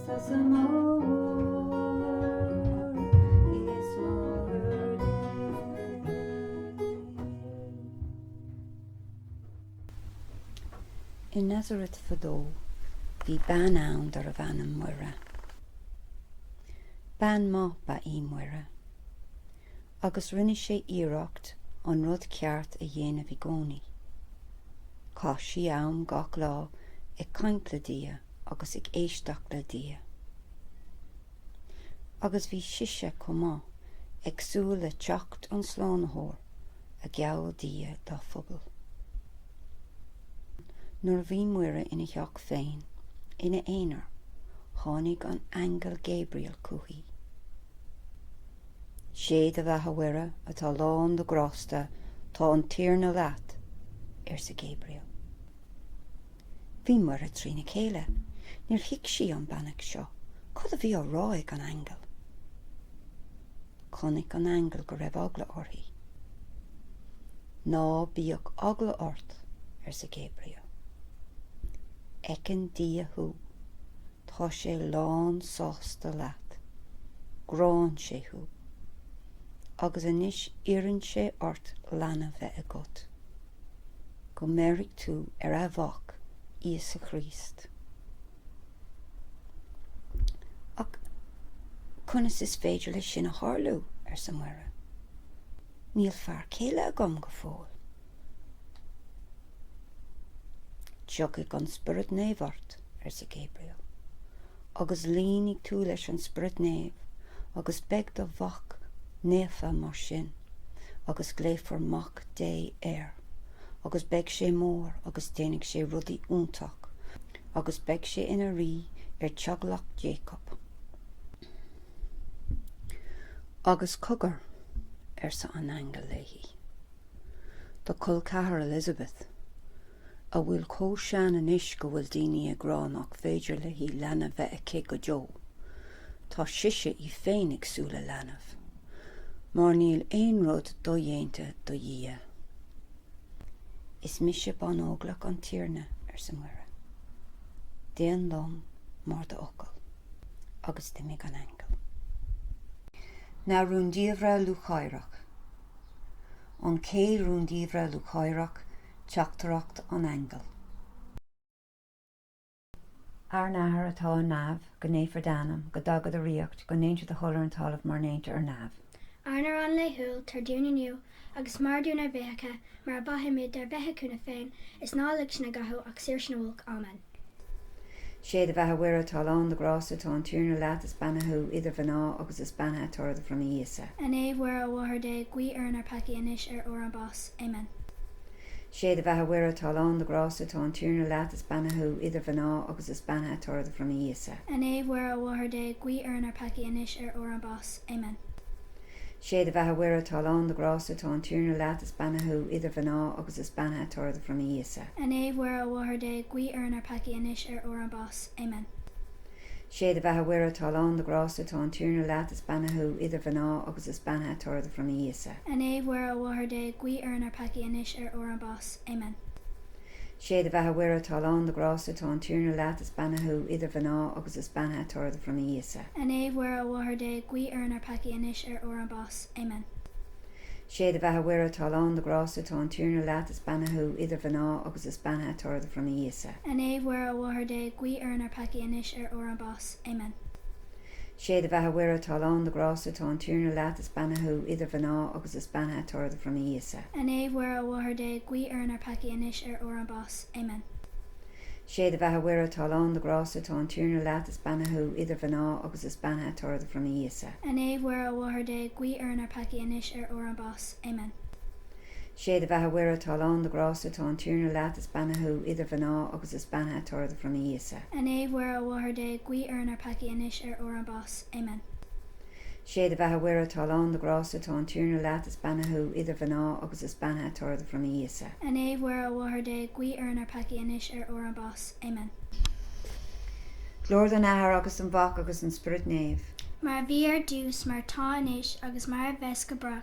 I Nazarat fadó bhí bean ann darbh ainm Muire. Bean maith ba í Muire agus rinne sí iarracht an rud ceart a dhéanamh i gcónaí. Chaith sí am gach lá ag caint le Dia. agus ag éisteacht le Dia. Agus bhí sise chomh maith ag súil le teacht an Slánaitheoir a gheall Dia dá phobal. Nuair a bhí Muire ina theach féin, ina aonar, tháinig an t-aingeal Gabriel chuici. Sé do bheatha Mhuire atá lán de grásta tá an Tiarna leat, arsa Gabriel. Bhí Muire trína chéile. Níor thuig sí an bheannacht seo. Cad a bhí á rá ag an aingeal? Chonaic an aingeal go raibh eagla uirthi. Ná bíodh eagla ort, arsa Gabriel. Feiceann Dia thú. Tá sé lán sásta leat. Gránn sé thú. Agus anois iarrann sé ort leanbh a bheith agat. Go mbeirfidh tú ar a' Mhac, Íosa Chríost. Ach conas is féidir leis sin a tharlú? arsa Muire. Níl fear céile agam go fóill. Tiocfaidh an Spiorad Naomh ort. arsa Gabriel, agus líonfaidh tú leis an Spiorad Naomh agus beidh do mhac naofa mar sin, agus glaofar Mac Dé air. Agus beidh sé mór agus déanfaidh sé rudaí iontach, agus beidh sé ina rí ar teaghlach Jacob. Agus cogar, arsa an aingeal léi, do col ceathar Elizabeth, a bhfuil chomh sean anois go bhfuil daoine ag rá nach féidir léi leanbh bheith aici go deo, tá sise í féin ag súil le leanbh. Mar níl aon rud dodhéanta do Dhia. Is mise banóglach an Tiarna, arsa Muire. Déan liom mar d'fhocal. Agus d'imigh an aingeal. Na Rúndiamhra Lúcháireach An chéad rúndiamhair lúcháireach Teachtaireacht an Aingil. Ár nAthair atá ar neamh, go naofar d'ainm, go dtaga do ríocht, go ndéantar do thoil ar an talamh mar ndéantar ar neamh. Ár n-arán laethúil tabhair dúinn inniu, agus maith dúinn ár bhfiacha, mar a mhaitheimid dár bhféichiúna féin, is ná lig sinn i gcathú ach saor sinn ó olc. Amen. Sé do bheatha Mhuire atá lán de ghrásta tá an Tiarna leat is beannaithe thú idir mhná agus is beannaithe toradh do bhroinne Íosa. A Naomh Mhuire a Mháthair Dé guigh orainn ár peacaí anois ar uair ár mbás. Amen. Sé do bheatha Mhuire atá lán de ghrásta tá an Tiarna leat is beannaithe thú idir mhná agus is beannaithe toradh do bhroinne Íosa. A Naomh Mhuire a Mháthair Dé guigh orainn ár peacaí anois ar uair ár mbás. Amen. Sé do bheatha Mhuire atá lán de ghrásta tá an Tiarna leat is beannaithe thú idir mhná agus is beannaithe toradh do bhroinne Íosa. A Naomh Mhuire a Mháthair Dé guigh orainn ár peacaí anois ar uair ár mbás. Amen. Sé do bheatha Mhuire atá lán de ghrásta tá an Tiarna leat is beannaithe thú idir mhná agus is beannaithe toradh do bhroinne Íosa. A Naomh Mhuire a Mháthair Dé guigh orainn ár peacaí anois ar uair ár mbás. Amen. Sé do bheatha Mhuire atá lán de ghrásta tá an Tiarna leat is beannaithe thú idir mhná agus is beannaithe toradh do bhroinne Íosa. A Naomh Mhuire a Mháthair Dé guigh orainn ár peacaí anois ar uair ár mbás. Amen. Sé do bheatha Mhuire atá lán de ghrásta tá an Tiarna leat is beannaithe thú idir mhná agus is beannaithe toradh do bhroinne Íosa. A Naomh Mhuire a Mháthair Dé guigh orainn ár peacaí anois ar uair ár mbás. Amen. Sé do bheatha Mhuire atá lán de ghrásta tá an Tiarna leat, is beannaithe thú idir mhná agus is beannaithe toradh do bhroinne Íosa. A Naomh Mhuire a Mháthair Dé guigh orainn ár peacaí anois ar uair ár mbás. Amen. Sé do bheatha Mhuire atá lán de ghrásta tá an Tiarna leat, is beannaithe thú idir mhná agus is beannaithe toradh do bhroinne Íosa. A Naomh Mhuire a Mháthair Dé guigh orainn ár peacaí anois ar uair ár mbás. Amen. Sé do bheatha Mhuire atá lán de ghrásta tá an Tiarna leat is beannaithe thú idir mhná agus is beannaithe toradh do bhroinne Íosa. A Naomh Mhuire a Mháthair Dé guigh orainn ár peacaí anois ar uair ár mbás. Amen. Sé do bheatha Mhuire atá lán de ghrásta tá an Tiarna leat is beannaithe thú idir mhná agus is beannaithe toradh do bhroinne Íosa. A Naomh Mhuire a Mháthair Dé guigh orainn ár peacaí anois ar uair ár mbás. Amen. Glóir don Athair agus don Mhac agus don Spioraid Naomh. Mar a bhí ar dtús mar atá anois agus mar a bheas go brách.